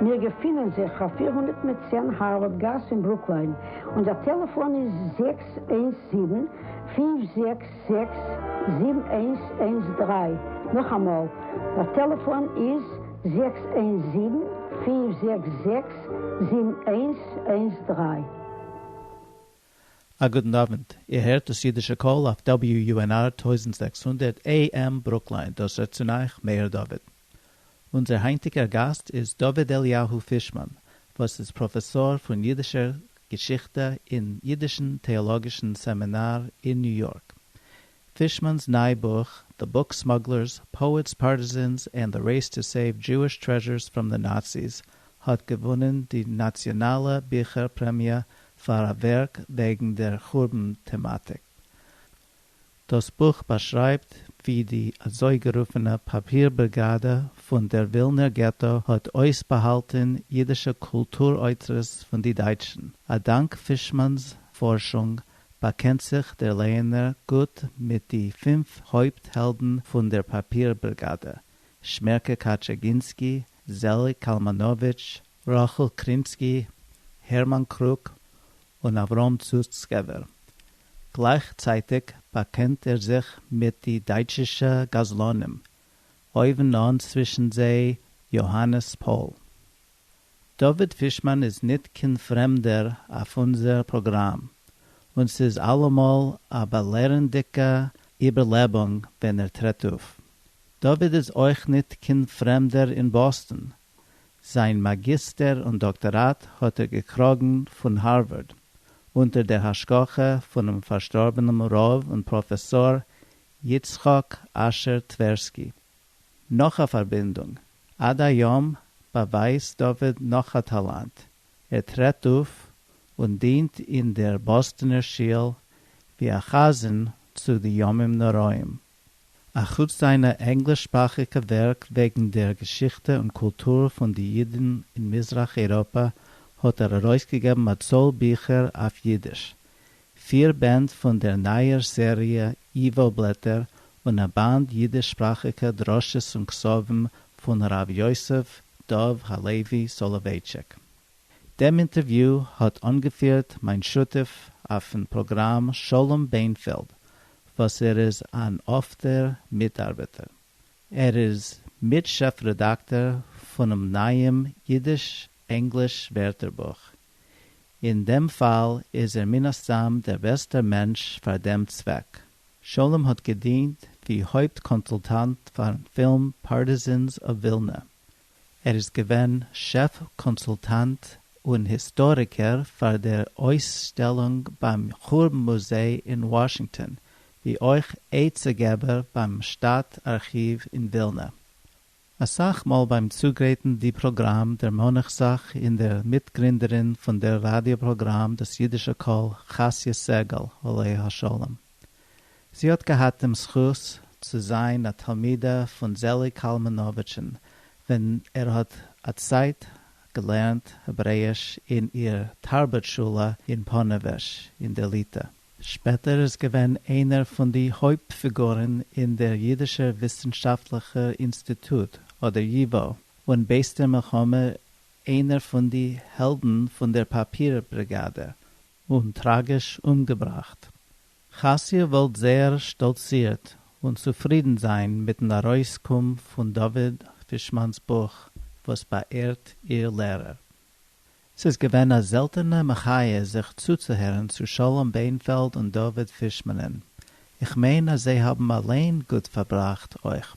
מיר געפינען זיך אויף פֿיר הונדערט מיט צען הארווארד גאס אין ברוקליין, און דער טעלעפאן איז זעקס איינס זיבן, פֿינף זעקס זעקס, זיבן איינס איינס דרײַ, נאכאמאל, דער טעלעפאן איז זעקס איינס זיבן, פֿינף זעקס זעקס, זיבן איינס איינס דרײַ. א גוטן אווענט, איר הערט דאס אידישע קול אויף WUNR טויזנט זעקס הונדערט AM ברוקליין, דאס רעדט צון אייך מאיר דוד. אונזער היינטיגער גאסט איז דוד אליהו פישמאן וואס איז פראפעסאר פון אידישער געשיכטע אין אידישן טעאלאגישן סעמינאר אין ניו יארק. פישמאן'ס ניי בוך The Book Smugglers, Poets, Partisans and the Race to Save Jewish Treasures from the Nazis האט געוואונען די נאציאנאלע ביכער פרעמיע פאר א ווערק וועגן דער חורבן טעמאטיק. דאָס בוך באַשרײַבט װי די אַזױגערופֿענע פּאַפּיר-בריגאַדע פֿון דער װילנער געטאָ האָט אױסבאַהאַלטן ייִדישע קולטור-אוצרות פֿון די דײַטשן. אַ דאַנק פֿישמאַנס פֿאָרשונג באַקענט זיך דער לייענער גוט מיט די פֿינף הױפּט-העלדן פֿון דער פּאַפּיר-בריגאַדע, שמערקע קאַטשעגינסקי, זעליק קאַלמאַנאָװיטש, רחל קרינסקי, הערמאן קרוק און אברהם סוצקעווער. גלייכצייטיג באקענט ער זיך מיט די דייטשישע גזלנים, אויבן אן צווישן זיי יאהאנעס פאול. דוד פישמאן איז ניט קיין פרעמדער אויף אונזער פראגראם, און ס'איז אלעמאל א באלערנדיקע איבערלעבונג ווען ער טרעט אויף. דוד איז אויך ניט קיין פרעמדער אין באסטן, זיין מאגיסטער און דאקטאראט האט ער געקראגן פון הארווארד, אונטער דער השגחה פונעם פארשטארבענעם רב און פראפעסאר יצחק אשר טווערסקי. נאך א פארבינדונג, עד היום באווייזט דוד נאך א טאלאנט, ער טרעט אויף און דינט אין דער באסטאנער שיל ווי א חזן צו די ימים נוראים. אַ חוץ זײַנע ענגליש-שפּראַכיקע ווערק וועגן דער געשיכטע און קולטור פֿון די ייִדן אין מיזרח-אייראָפּע, האָט ער אַרויסגעגעבן אַ צאָל ביכער אויף ייִדיש, פֿיר בענד פֿון דער נײַער סעריע איוואָ-בלעטער און אַ באַנד ייִדיש-שפּראַכיקע דרשות און כּספֿים פֿון הרבֿ יוסף דובֿ הלוי סאָלאָווייטשיק. דעם אינטערוויו האט אנגעפירט מיין שותף אויפן פראגראם שלום בענפעלד וואס ער איז אן אפטער מיטארבעטער. ער איז מיט שעף רעדאקטאר פונעם נייעם אידיש-ענגליש ווערטערבוך. אין דעם פאל איז ער מן הסתם דער בעסטער מענטש פאר דעם צוועק. שלום האט געדינט ווי הויפט קאנסולטאנט פארן פילם Partisans of Vilna ער איז געווען שעף קאנסולטאנט און היסטאריקער פאר דער אויסשטעלונג ביים חורבן מוזיי אין וואשינגטאן, ווי אויך עצה געבער ביים שטאט ארכיוו אין ווילנע. אסאך מאל ביים צוגרייטן די פראגראם דערמאן איך זיך אין דער מיטגרינדערין פון דער ראדיא פראגראם דאס אידישע קול חסיה סגל עליה השלום. זי האט געהאט דעם זכות צו זיין א תלמידה פון זעליג קאלמאנאוויטשן ווען ער האט א צייט געלערנט העברעיש אין איר תרבות שולע אין פאנעוועזש אין דער ליטא. שפעטער איז געווען איינער פון די הויפט פיגורן אין דער יידישער וויסנשאפטלעכער אינסטיטוט אדער ייווא, און בעת דער מלחמה איינער פון די העלדן פון דער פאפיר בריגאדע. און טראגיש אומגעבראכט. חזקיה וואלט זייער שטאלצירט און צופרידן זיין מיטן ארויסקום פון דוד פישמאן'ס בוך וואס באעהרט איר לערער. ס'איז געווען א זעלטענע מחיה זיך צוצוהערן צו שלום בענפעלד און דוד פישמאן'ען. איך מיין אז זיי האבן אליין גוט פארבראכט אויך.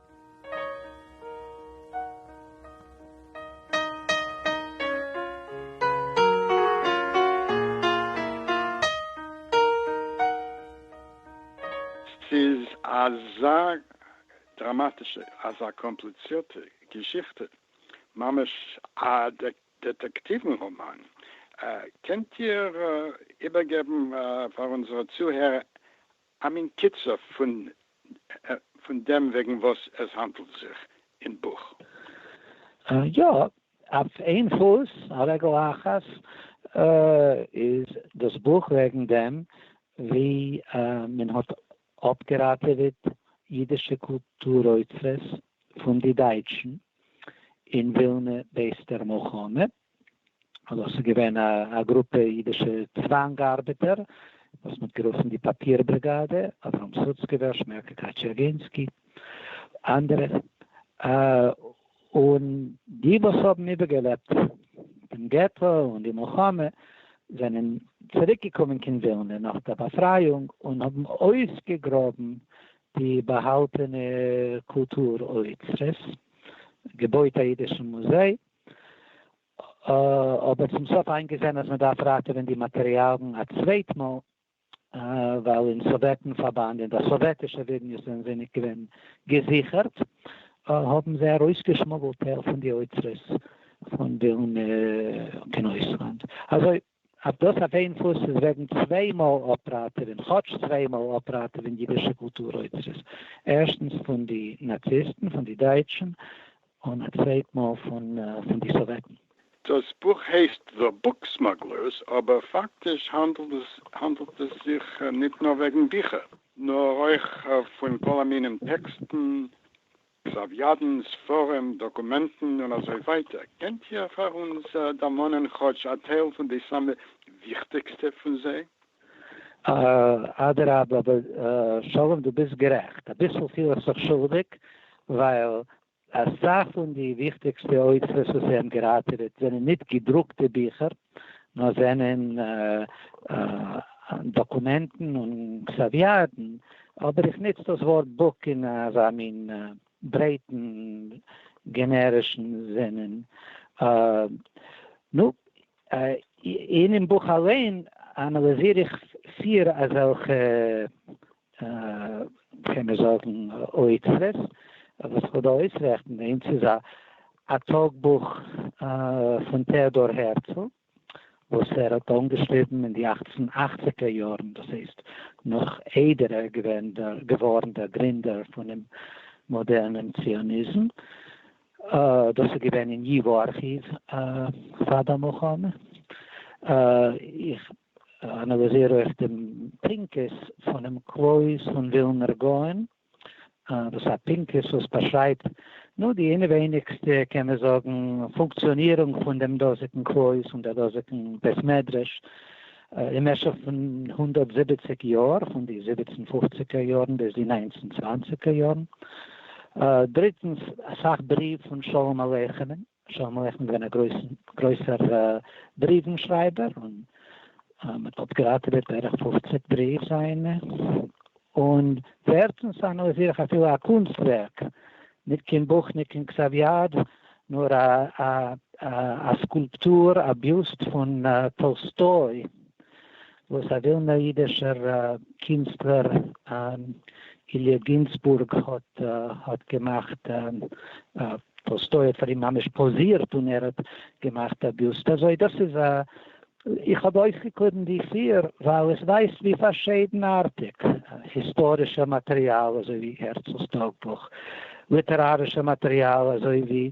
ס'איז אזא דראמאטישע, אזא קאמפליצירטע געשיכטע, ממש א דעטעקטיוון ראמאן. קענט איר איבערגעבן פאר אונזערע צוהערער א מין קיצור פון דעם וועגן וואס עס האנדלט זיך אין בוך. יא, אויף איין פוס, על רגל אחת, איז דאס בוך וועגן דעם ווי מען האט אפגעראטעוועט אידישע קולטור אוצרות פון די דייטשן אין ווילנע בעת דער מלחמה, דאס איז געווען א גרופע אידישע צוואנג ארבעטער וואס מ'האט גערופן די פאפיר בריגאדע, אברהם סוצקעווער, שמעלקע קאטשערגינסקי, אנדערע. און די וואס האבן איבערגעלעבט דעם געטא און די מלחמה זענען צוריקגעקומען קיין ווילנע נאך דער באפרייאונג און האבן אויסגעגראבן די באהאלטענע קולטור אוצרות, געבויט א אידישן מוזיי, אבער צום סוף איינגעזען אז מען דארף ראטעווען די מאטריאלן א צווייט מאל, ווייל אין סאוועטן פארבאנד און די סאוועטישע ווידניוס זענען זיי נישט געווען געזיכערט, האבן זיי ארויסגעשמוגלט טייל פון די אוצרות פון ווילנע און אויסלאנד. אזוי. אט דאס אויף איין פוס איז וועגן צוויי מאל אפראטעווען, כאטש צוויי מאל אפראטעווען אידישע קולטור אוצרות, ערשטנס פון די נאציסטן, פון די דייטשן, און א צווייט מאל פון די סאוועטן. דאס בוך הייסט The Book Smugglers, אבער פאקטיש האנדלט עס זיך ניט נאר וועגן ביכער, נאר אויך פון כל המינים טעקסטן, סאוויאדן, ספרים, דאקומענטן און אזוי ווייטער, קענט איר פאר אונז דערמאנען כאטש א טייל פון די סאמע וויכטיגסטע פון זיי? אדרבה, אבער שלום דו ביסט גערעכט, אביסל פיל איך זיך שולדיג, ווייל אסאך פון די וויכטיגסטע אוצרות וואס זיי האבן געראטעוועט זענען ניט געדרוקטע ביכער, נאר זענען דאקומענטן און קסאוויאדן, אבער איך נוץ דאס ווארט בוק אין אזא מין ברייטן גענערישן זינען. נו, אינעם בוך אליין אנאליזיר איך פיר אזעלכע קען מען זאגן אוצרות, וואס איך וויל דא אויסרעכטן און ס'איז א א טאג בוך פון טעאדאר הערצל וואס ער האט אנגעשריבן אין די אַכצן אַכציק ער יארן דאס הייסט נאך איידער ער איז געווען געווארן דער גרינדער פונעם מאדערנעם ציוניזם, דאס איז געווען אין ייווא ארכיוו פאר די מלחמה, איך אנאליזיר אויך דעם פנקס פונעם קלויז פון ווילנער גאון, דאס איז א פנקס וואס באשרייבט נאר די אינעווייניגסטע, קען מען זאגן, פונקציאנירונג פון דעם דאזיגן קלויז, פון דער דאזיגן בית מדרש, אין משך פון הונדערט זיבעציק יאר, פון די זיבעצן פופציגער יארן ביז די ניינצן צוואנציגער יארן. דריטנס, אסאך בריוו פון שלום עליכם'ן. שלמה מלך איז געווען א גרויסער בריוון שרייבער און מ'האט אפגעראטעוועט בערך פֿופֿציק בריוו זיינע, און ווערטנס אנאליזיר איך אפילו א קונסט ווערק, ניט קיין בוך ניט קיין כתב יד, נאר א סקולפטור, א ביוסט פון טאלסטוי, וואס א ווילנער אידישער קינסטלער איליע גינזבורג האט געמאכט, טאלסטוי האט פאר אים ממש פאזירט און ער האט געמאכט א ביוסט אזוי, דאס איז א, איך האב אויסגעקליבן די פיר ווייל איך ווייס ווי פארשעדנארטיג היסטארישע מאטריאל אזוי ווי הערצל'ס טאג בוך, ליטערארישע מאטריאל אזוי ווי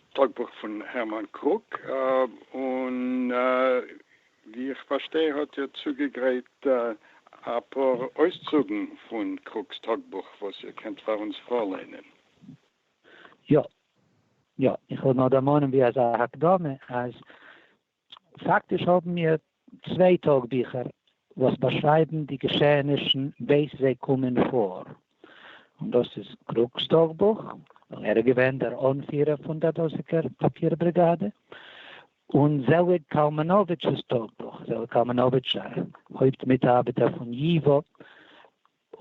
טאגבוך פון הערמאן קרוק, און ווי איך פארשטיי האט איר צוגעגרייט אפאר אויסצוגן פון קרוק'ס טאגבוך וואס איר קענט פאר אונז פארליינען. יא. יא. איך וויל נאר דערמאנען ווי אזא הקדמה אז פאקטיש האבן מיר צוויי טאג ביכער וואס באשרייבן די געשעענישן בעת זיי קומען פאר, און דאס איז קרוק'ס טאגבוך, ווייל ער איז געווען דער אנפירער פון דער דאזיגער פאפיר בריגאדע, און זעליג קאלמאנאוויטש'ס טאגבוך, זעליג קאלמאנאוויטש, א הויפט מיטארבעטער פון ייווא,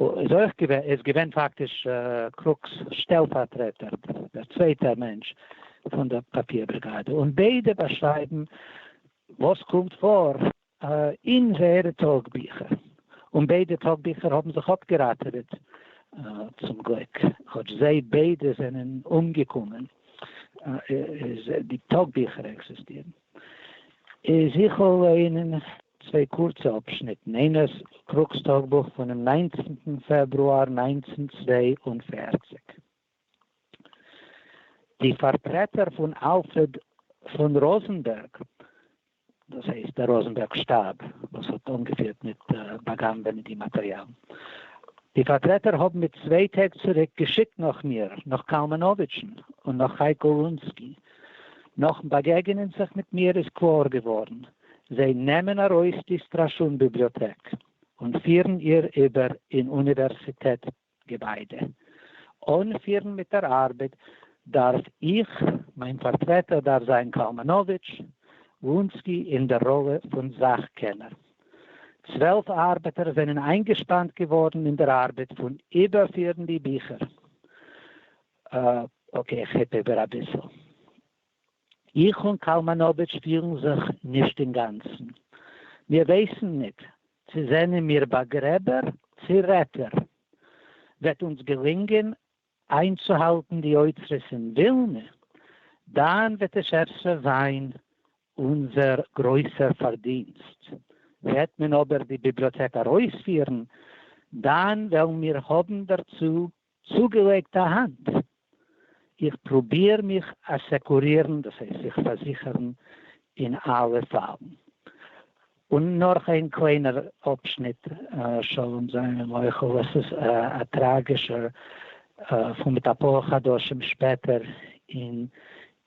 איז אויך געווען איז געווען פאקטיש קרוק'ס שטעלפארטרעטער, דער צווייטער מענטש פון דער פאפיר בריגאדע, און ביידע באשרייבן וואס קומט פאר אין זייערע טאגביכער, און ביידע טאגביכער האבן זיך אפגעראטעוועט צום גליק, כאטש זיי ביידע זענען אומגעקומען, איז די טאגביכער עקזיסטירן. איז איך אויף ליינען צוויי קורצע אפשניטן, איינערס קרוק'ס טאגבוך פונעם ניינצנטן פעברואר נײַנצן צוויי און פֿערציק. די פארטרעטער פון אלפרד פון ראזענבערג, דאס הייסט דער ראזענבערג שטאב וואס האט אנגעפירט מיט באגאנבענען די מאטריאל, די פארטרעטער האבן מיט צוויי טעג צוריק געשיקט נאך מיר, נאך קאלמאנאוויטשן און נאך חייקל רונסקי, נאכן באגעגענען זיך מיט מיר איז קלאר געווארן, זיי נעמען ארויס די סטראשון ביבליאטעק און פירן איר איבער אין אוניווערסיטעט געביידע. אנפירן מיט דער ארבעט דארף איך, מיין פארטרעטער דארף זיין קאלמאנאוויטש, וונסקי אין דער ראלע פון זאך קענער. צוועלף ארבעטער זענען איינגעשפאנט געווארן אין דער ארבעט פון איבערפירן די ביכער. אקעי, איך הייב איבער אביסל. איך און קאלמאנאוויטש שפירן זיך נישט אינגאנצן. מיר ווייסן ניט, צי זענען מיר באגרעבער, צי רעטער. וועט אונדז געלינגען איינצוהאלטן די אוצרות אין ווילנע, דאן וועט עס אפשר זיין אונדזער גרויסער פארדינסט. וועט מען אבער די ביבליאטעק ארויספירן, דאן וועלן מיר האבן דערצו צוגעלייגט א האנט. איך פרוביר מיך אסעקורירן, דאס הייסט זיך פארזיכערן אין אלע פאלן. און נאך איין קליינער אפשניט, שלום זיין און מוחל, עס איז א טראגישער פאל מיט אפאר חדשים שפעטער אין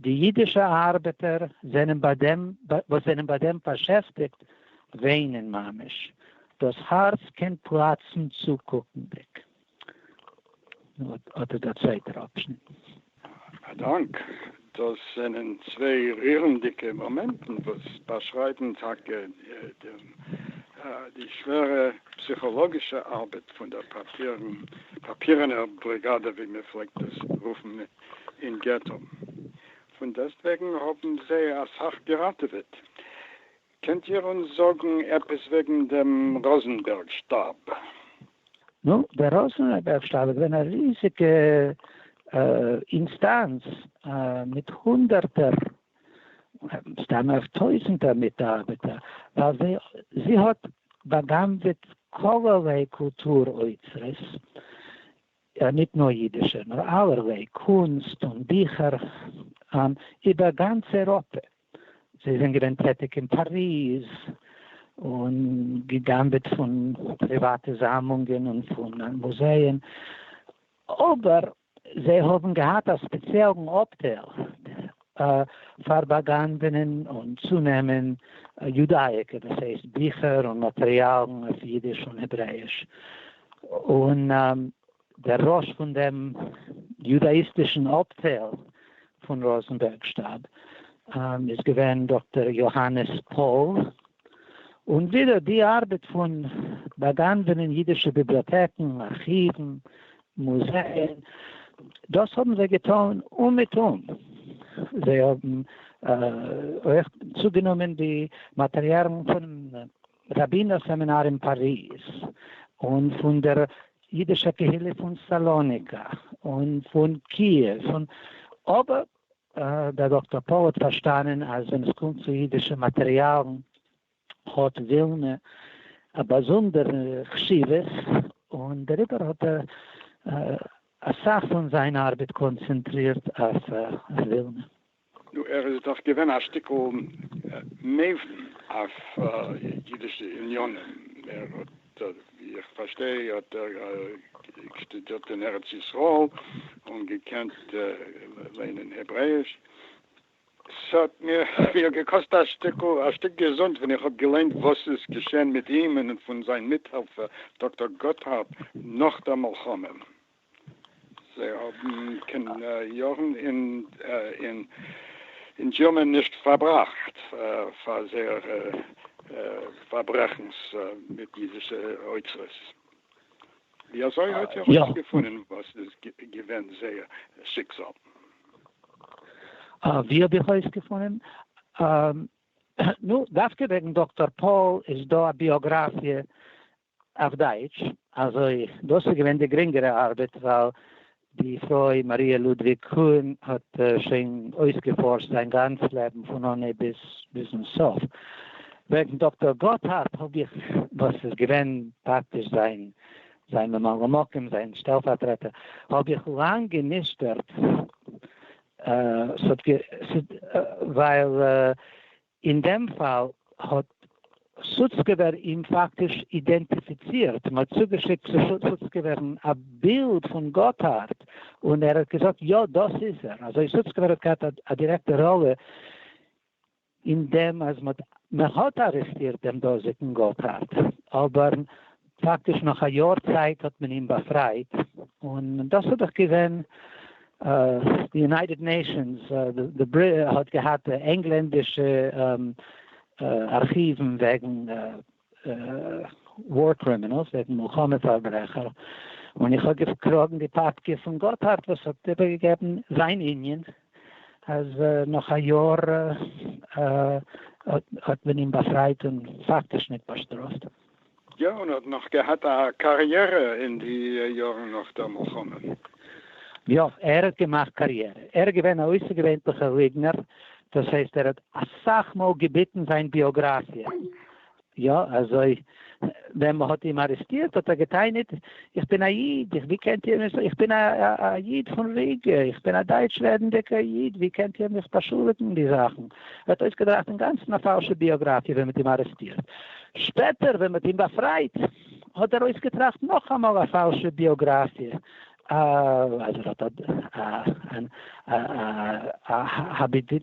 די אידישע ארבעטער זענען ביי דעם וואס זענען ביי דעם באשעפטיגט וויינען ממש, דאס הארץ קען פלאצן צוקוקנדיג. אט איז דער צווייטער אפשניט. א דאנק. דאס זענען צוויי רירנדיגע מאמענטן וואס באשרייבן טאקע די שווערע פסיכאלאגישע ארבעט פון דער פאפירענער בריגאדע ווי מען פלעגט עס רופן אין געטא, פון דעסטוועגן האבן זיי אסאך געראטעוועט. קענט איר אונז זאגן עפעס וועגן דעם ראזענבערג שטאב? נו, דער ראזענבערג שטאב איז געווען א ריזיגע אינסטאנץ מיט הונדערטער, מסתמא אויף טויזנטער מיטארבעטער, ווייל זי זי האט בא'גנב'עט כל'ערליי קולטור אוצרות, יא, ניט נאָר ייִדישער, נאָר אַלערוויי קונסט און ביכער איבער גאַנץ אייראָפּע. זיי זענען געווען טעטיק אין פּאַריז און געגנבעט פֿון פּריוואַטע זאַמלונגען און פֿון מוזייען. אָבער זיי האָבן געהאַט אַ ספּעציעלן אָפּטייל פארבאגאנבענען און צונעמען יודאיקע, דאס הייסט ביכער און מאטריאלן אויף אידיש און העברעאיש, און דער ראש פון דעם יודאאיסטישן אפטייל פון ראזנבערג שטאב איז געווען דאקטער יאהאנעס פאול, און ווידער די ארבעט פון באגאנבענען אידישע ביבליאטעקן, ארכיוון, מוז זען, דאס האבן זיי געטאן אומעטום, זיי האבן אויך צוגענומען די מאטעריאלן פונעם ראבינער סעמינאר אין פאריז, און פון דער אידישער קהילה פון סאלאניקא, און פון קיעוו, און אבער דער דאקטאר פאול האט פארשטאנען אז ווען עס קומט צו אידישע מאטעריאלן האט ווילנע א באזונדערע חשיבות, און דעריבער האט ער אסאך פון זיין ארבעט קאנצענטרירט אויף ווילנע. נו, ער איז דאך געווען א שטיקל מבין אויף אידישע עניינים, ער האט, ווי איך פארשטיי, האט ער שטודירט אין ארץ ישראל און געקענט לערנען העברעיש, ס'האט מיר געקאסט א שטיקל א שטיק געזונט ווען איך האב געליינט וואס איז געשען מיט אים און פון זיין מיטהעלפער דאקטאר גאטהארד נאך דער מלחמה. זיי האבן קיין יארן אין דזשירמען נישט פארבראכט פאר זייערע פארברעכנס מיט אידישע אוצרות. ווי אזוי האט איר ארויס געפונען וואס איז געווען זייער שיקזאל? ווי האב איך אויס געפונען? נו, דווקא וועגן דאקטאר פאול איז דא א ביאגראפיע אויף דייטש, אזוי דאס איז געווען די גרינגערע ארבעט ווייל די פרוי מאריע לודוויג קאהן האט שוין אויסגעפארשט זיין גאנץ לעבן פון אנהייב ביז ביזן סוף. וועגן דאקטאר גאטהארד האב איך, וואס איז געווען פאקטיש זיין זיין ממלא מקום, זיין שטעלפארטרעטער, האב איך לאנג גענישטערט, ווייל אין דעם פאל האט סוצקעווער אים פאקטיש אידענטיפיצירט, מ'האט צוגעשיקט צו סוצקעווערן א בילד פון גאטהארד און ער האט געזאגט יא דאס איז ער, אזוי סוצקעווער האט געהאט א דירעקטע ראלע אין דעם אז מ'האט ארעסטירט דעם דאזיגן גאטהארד, אבער פאקטיש נאך א יאר צייט האט מען אים באפרייט, און דאס איז דאך געווען די יונייטעד נעישאנס האט געהאט ענגלענדישע ארכיוון וועגן וואר קרימינעלס, וועגן מלחמה פארברעכער, און איך האב געקראגן די פאפקע פון גאטהארד וואס האט איבערגעגעבן זיין יוניאן אז נאך א יאר האט מען אים באפרייט און פאקטיש נישט באשטראפט. יא, און האט נאך געהאט א קאריערע אין די יארן נאך דער מלחמה. יא, ער האט געמאכט קאריערע. ער איז געווען א אויסערגעווענטליכער ליגנער, דאס הייסט ער האט אסאך מאל געביטן זיין ביאגראפיע. יא, אזוי ווען מען האט אים ארעסטירט האט ער געטענה'ט, איך בין א איד, איך ווי קענט איר מיך, איך בין א איד פון ריגע, איך בין א דייטש רעדנדיגער איד, ווי קענט איר מיך באשולדיגן אין די זאכן. ער האט אויסגעדראכט אינגאנצן א פאלשע ביאגראפיע ווען מען האט אים ארעסטירט. שפעטער ווען מ'האט אים באפרייט האט ער אויסגעטראכט נאכאמאל א פאלשע ביאגראפיע אז ער האט א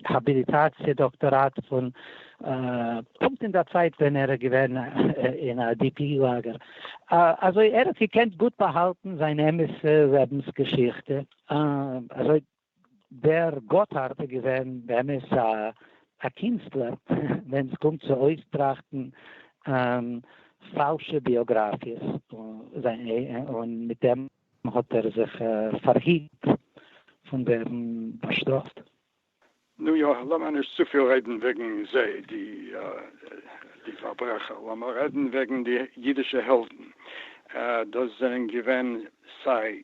האביליטאציע דאקטאראט פון פונקט אין דער צייט ווען ער איז געווען אין א די פי לאגער אזוי ער האט געקענט גוט באהאלטן זיין אמת'ע לעבנס געשיכטע אזוי דער גאטהארד איז געווען באמת א קינסטלער ווען עס קומט צו אויסטראכטן פאלשע ביאגראפיעס, און מיט דעם האט ער זיך פארהיט פון ווערן באשטראפט. נו יא, לאמיר נישט צופיל רעדן וועגן זיי די פארברעכער, לאמיר רעדן וועגן די אידישע העלדן, דאס זענען געווען סיי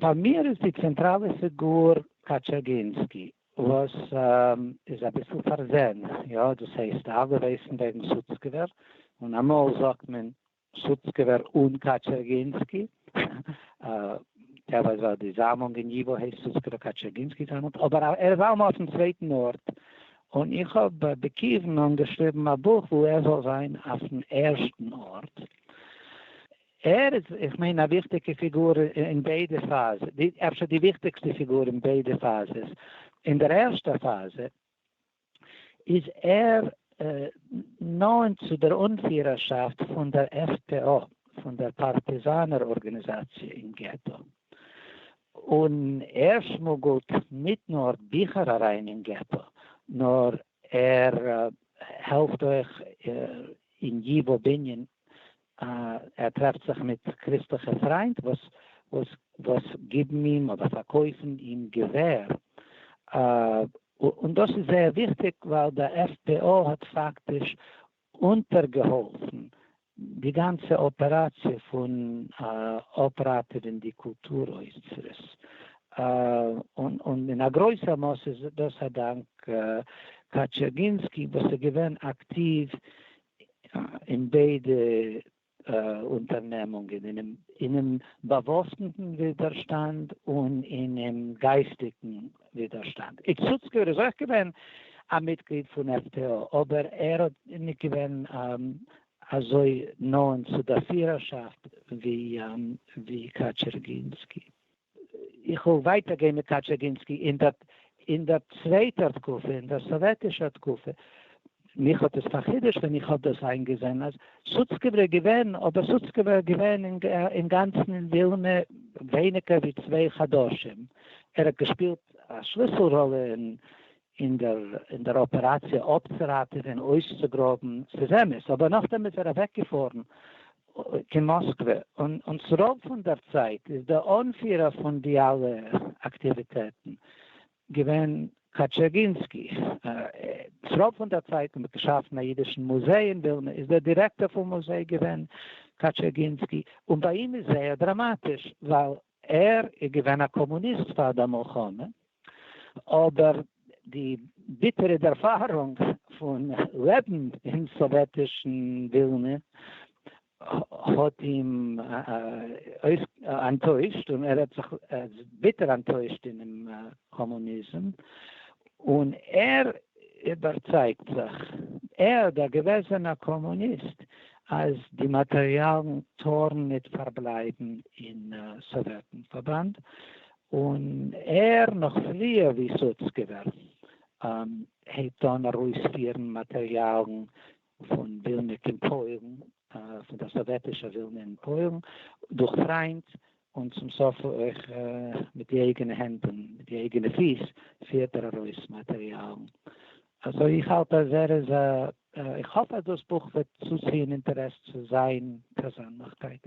פאר מיר איז די צענטראלע פיגור קאטשאגינסקי, וואס איז אביסל פארזען, יא, דאס הייסט אלע ווייסן וועגן סוצקעווער, און אמאל זאגט מען סוצקעווער און קאטשאגינסקי, טעוה זאל די זאמלונג אין ייווא הייסט סוצקעווער קאטשאגינסקי זאמלונג, אבער ער איז אלעמאל אויפן צווייטן ארט, און איך האב בכיוון אנגעשריבן א בוך וואו ער זאל זיין אויפן ערשטן ארט. ער איז איך מיין א וויכטיגע פיגור אין ביידע פאזע, אפשר די וויכטיגסטע פיגור אין ביידע פאזעס, אין דער ערשטע פאזע איז ער נאנט צו דער אנפירערשאפט פון דער עף פ או, פון דער פארטיזאנער ארגאניזאציע אין געטא, און ער שמוגלט ניט נאר ביכער אריין אין געטא, נאר ער העלפט אויך אין י ב בנין, ער טרעפט זיך מיט קריסטליכע פריינט וואס גיבן אים אדער פארקויפן אים געווער, און דאס איז זייער וויכטיג ווייל די עף פי או האט פאקטיש אונטערגעהאלפן די גאנצע אפעראציע פון אפראטעווען די קולטור אוצרות, און אין א גרויסע מאס איז דאס א דאנק קאטשערגינסקי וואס איז געווען אקטיוו אין ביידע אונטערנעמונגען אינעם באוואוסטן ווידערשטאנד און אינעם גייסטיקן ווידערשטאנד. איצוצקער איז אויך געווען א מיטגליד פון עף-טי-או, אבער ער האט ניט געווען אזוי נאענט צו דער פירערשאפט ווי קאטשערגינסקי. איך וויל ווייטער גיין מיט קאטשעגינסקי אין דער אין דער צווייטער תקופה, אין דער סאוועטישער תקופה. מיך האט עס פארחידושט ווען איך האב דאס איינגעזען אז סוצקעווער איז געווען, אבער סוצקעווער איז געווען אינגאנצן אין ווילנע ווייניגער ווי צוויי חדשים. ער האט געשפילט א שליסל-ראלע אין אין דער אין דער אפעראציע אפצוראטעווען אויסצוגראבן, ס'איז אמת, אבער נאכדעם איז ער אוועקגעפארן קיין מאסקווע, און און ס'רוב פון דער צייט איז די אנפירער פון די אלע אקטיוויטעטן געווען קאטשערגינסקי, ס'רוב פון דער צייט ווען מ'האט געשאפן א אידישן מוזיי אין ווילנע איז דער דירעקטאר פון מוזיי געווען קאטשערגינסקי, און ביי אים איז זייער דראמאטיש ווייל ער איז געווען א קאמוניסט פאר די מלחמה, אבער די ביטערע ערפארונג פון לעבן אין סאוועטישן ווילנע האט אים אנטוישט און ער האט זיך ביטער אנטוישט אינעם קאמוניזם, און ער איבערצייגט זיך, ער דער געוועזענער קאמוניסט, אז די מאטריאלן טארן ניט פארבלייבן אין סאוועטן-פארבאנד, און ער, נאך פריער ווי סוצקעווער, הייבט אן ארויספירן מאטריאלן פון ווילנע קין פויערן, פון דער סאוועטישער ווילנע אין פויערן, דורך פריינד, און צום סוף אויך מיט די אייגענע הענט און מיט די אייגענע פיס פירט ער ארויס מאטעריאלן. סאו איך האלט אז ער איז א, איך האף אז דאס בוך וועט צוציען אינטערעס צו זיין פערזענליכקייט.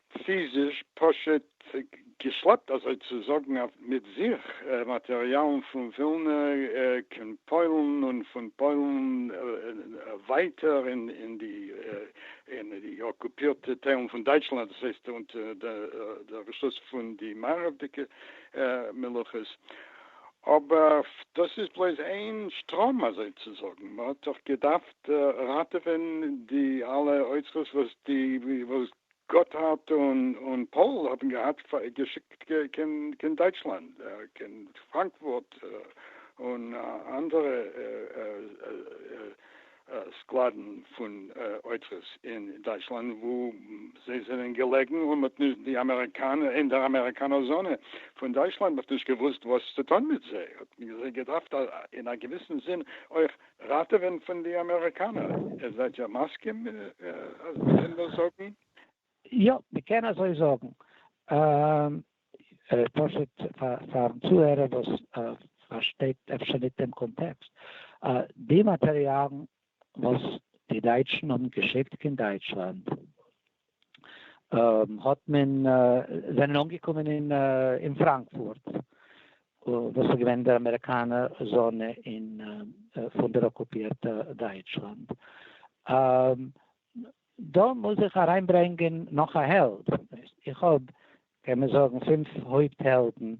פיזיש, פשוט געשלעפט אזוי צו זאגן, מיט זיך מאטעריאלן פון ווילנע קיין פוילן און פון פוילן ווייטער אין די אקופירטע טיילן פון דייטשלאנד, דאס הייסט אונטער דער רשות פון די מערב'דיגע מלוכות. אבער דאס איז בלויז איין שטראם אזוי צו זאגן, מען האט דאך געדארפט ראטעווען די אלע אוצרות וואס די גאטהארד און פאול האבן געהאט געשיקט קיין דייטשלאנד, קיין פראנקפורט און אנדערע סקלאדן פון אוצרות אין דייטשלאנד וואו זיי זענען געלעגן, און מ'האט נישט, די אמעריקאנער, אין דער אמעריקאנער זאנע פון דייטשלאנד, מ'האט נישט געוואוסט וואס צו טון מיט זיי, האט מען זיי געדארפט אין א געוויסן זין אויך ראטעווען פון די אמעריקאנער, איר זענט יא מסכים אז מען קען דאס זאגן? יא, מען קען אזוי זאגן. פשוט פארן צוהערער וואס פארשטייט אפשר ניט דעם קאנטעקסט. די מאטעריאלן וואס די דייטשן האבן געשיקט קיין דייטשלאנד, האט מען זענען אנגעקומען אין אין פראנקפורט וואס איז געווען דער אמעריקאנע זאנע אין פון דער אקופירטע דייטשלאנד דא מוז איך אריינברענגען נאך א העלד איך האב קען מען זאגן פֿינף הויפט העלדן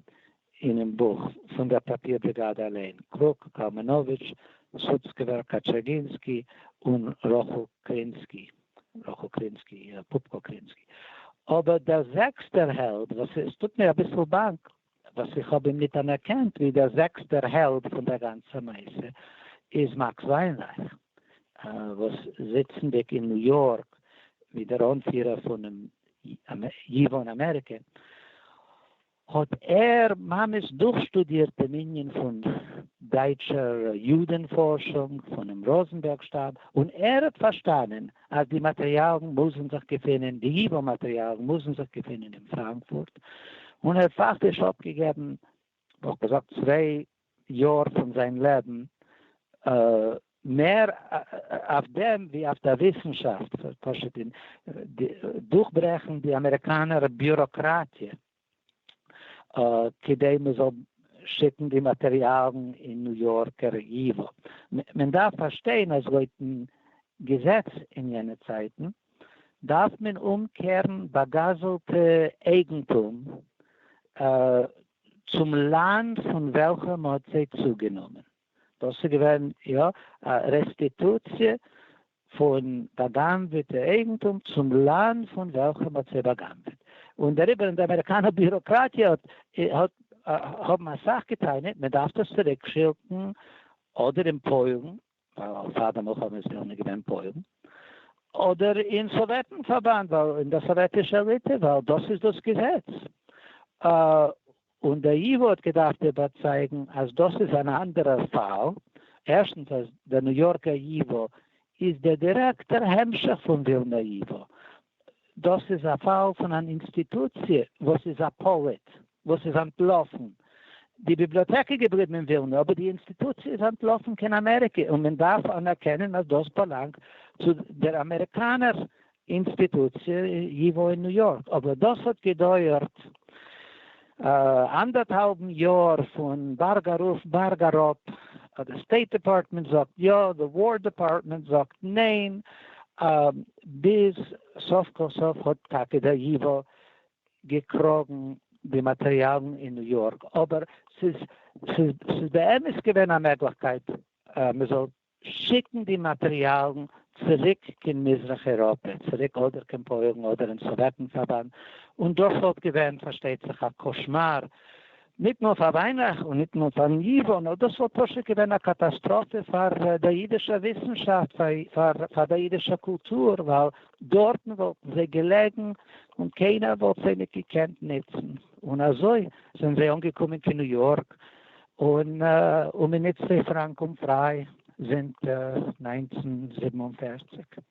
אינעם בוך פון דער פאפיר בריגאדע אליין, קרוק, קאלמענאוויטש, סוצקעווער, קאטשעגינסקי, און רחל קרינסקי, רחל קרינסקי, פופקא קרינסקי. אבער דער זעקסטער העלד, וואס עס טוט מיר אביסל באנק וואס איך האב אים ניט אנערקענט ווי דער זעקסטער העלד פון דער גאנצער מעשה, איז מאקס וויינרייך, וואס זיצנדיק אין ניו יארק ווי דער אנפירער פונעם יוון אמעריקע, האט ער ממש דורכשטודירט דעם ענין פון דייטשער יודען פארשונג פונעם ראזענבערג שטאב, און ער האט פארשטאנען אז די מאטריאלן מוזן זיך געפינען, די יוון מאטריאלן מוזן זיך געפינען אין פראנקפורט, און ער האט פאקטיש אפגעגעבן וואלט געזאגט צוויי יאר פון זיין לעבן מער אויף דעם ווי אויף די וויסנשאפט, פשוט אין דורכברעכן די אמעריקאנער ביוראקראטיע כדי מען זאל שיקן די מאטריאלן אין ניו יארקער ייווא. מען דארף פארשטיין אז לויטן געזעץ אין יענע צייטן, דארף מען אומקערן באגאזלטע אייגנטום צום לאנד פון וועלכע מען האט זיי צוגענומען. דאס איז געווען יא א רעסטיטוציע פון באגנבעטע אייגנטום צום לאנד פון וועלכע מען האט זיי באגנבעט. און דעריבער אין די אמעריקאנע ביוראקראטיע האט האבן אסאך געטענה'ט מען דארף דאס צוריק שילקן אדער אין פוילן. ווייל פאר די מלחמה איז ווילנע געווען פוילן, אדער אין סאוועטן פארבאנד ווייל אין דער סאוועטישער ליטע ווייל דאס איז דאס געזעץ, און דער ייווא האט געדארפט איבערצייגן אז דאס איז אן אנדערער פאל, ערשטנס אז דער ניו יארקער ייווא איז דער דירעקטער המשך פון ווילנער ייווא, דאס איז א פאל פון אן אינסטיטוציע וואס איז א פאליט. וואס איז אנטלאפן. די ביבליאטעק איז געבליבן אין ווילנא, אבער די אינסטיטוציע איז אנטלאפן קיין אמעריקע, און מען דארף אנערקענען אז דאס באלאנגט צו דער אמעריקאנער אינסטיטוציע י ו אין ניו יארק, אבער דאס האט געדויערט אנדערטהאלבן יאר פון בארג ארויף בארג אראפ, די סטעיט דעפארטמענט זאגט יא, די וואר דעפארטמענט זאגט ניין, ביז סוף כל סוף האט טאקע דער י ו געקראגן די מאטריאלן אין ניו יארק, אבער ס'איז ס'איז באמת געווען א מעגליכקייט מען זאל שיקן די מאטריאלן צוריק קיין מזרח אייראפע, צוריק אדער קיין פוילן אדער אין סאוועטן פארבאנד, און דאס וואלט געווען פארשטייט זיך א קאשמאר ניט נאָר פֿאַר װײנעך און ניט נאָר פֿאַרן ייִװאָ, נאָר דאָס װאָלט פּשוט געװען אַ קאַטאַסטראָפֿע פֿאַר דער ייִדישער װיסנשאַפֿט, פֿאַר פֿאַר דער ייִדישער קולטור, װײַל דאָרטן װאָלטן זײ געלעגן און קײנער װאָלט זײ ניט געקענט נוצן. און אַזױ זענען זײ אָנגעקומען קײן ניו-יאָרק, און און מע נוצט זײ פֿראַנק און פֿרײַ זינט נײַנצן זיבן און פֿערציק.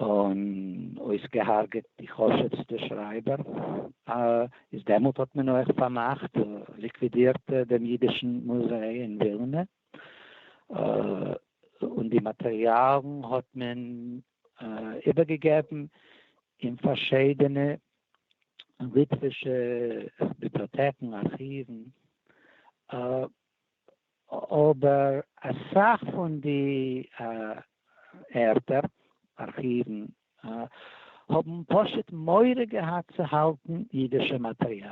און אויסגעהארגעט די חשובסטע שרייבער, איז דעמאלט האט מען אויך פארמאכט, ליקווידירט, דעם אידישן מוזיי אין ווילנע, און די מאטריאלן האט מען איבערגעגעבן אין פארשידענע ליטווישע ביבליאטעקן, ארכיוון, אבער אסאך פון די ערטער, ארכיוון, האבן פשוט מורא געהאט צו האלטן אידישע מאטריאל.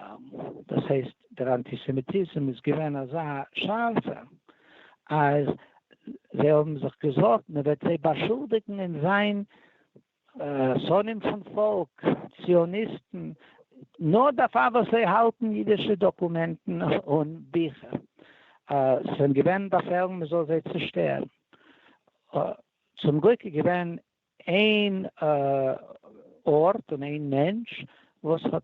דאס הייסט דער אנטיסעמיטיזם איז געווען אזא שארפער אז זיי האבן זיך געזארגט מען וועט זיי באשולדיגן אין זיין שונאים פון פאלק, ציוניסטן, נאר דערפאר וואס זיי האלטן אידישע דאקומענטן און ביכער. עס זענען געווען באפעלן מען זאל זיי צושטערן. צום גליק איז געווען איין ארט און איין מענטש וואס האט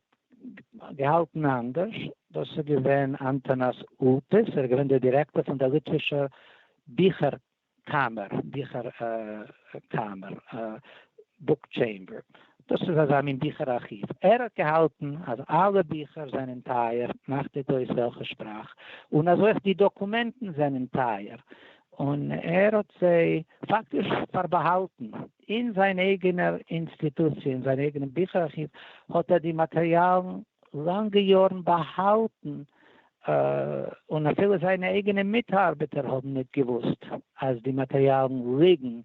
געהאלטן אנדערש, דאס איז געווען אנטאנאס אולפיס, ער איז געווען דער דירעקטאר פון דער ליטווישער ביכער קאמער, ביכער קאמער, בוק טשעמבער, דאס איז אזא מין ביכער ארכיוו. ער האט געהאלטן אז אלע ביכער זענען טייער, מאכט ניט אויס וועלכע שפראך, און אז אויך די דאקומענטן זענען טייער, און ער האט זיי פאקטיש פארבאהאלטן אין זיין אייגענער אינסטיטוציע, אין זיין אייגענעם ביכער ארכיוו האט ער די מאטריאלן לאנגע יארן באהאלטן און אפילו זיינע אייגענע מיטארבעטער האבן ניט געוואוסט אז די מאטריאלן ליגן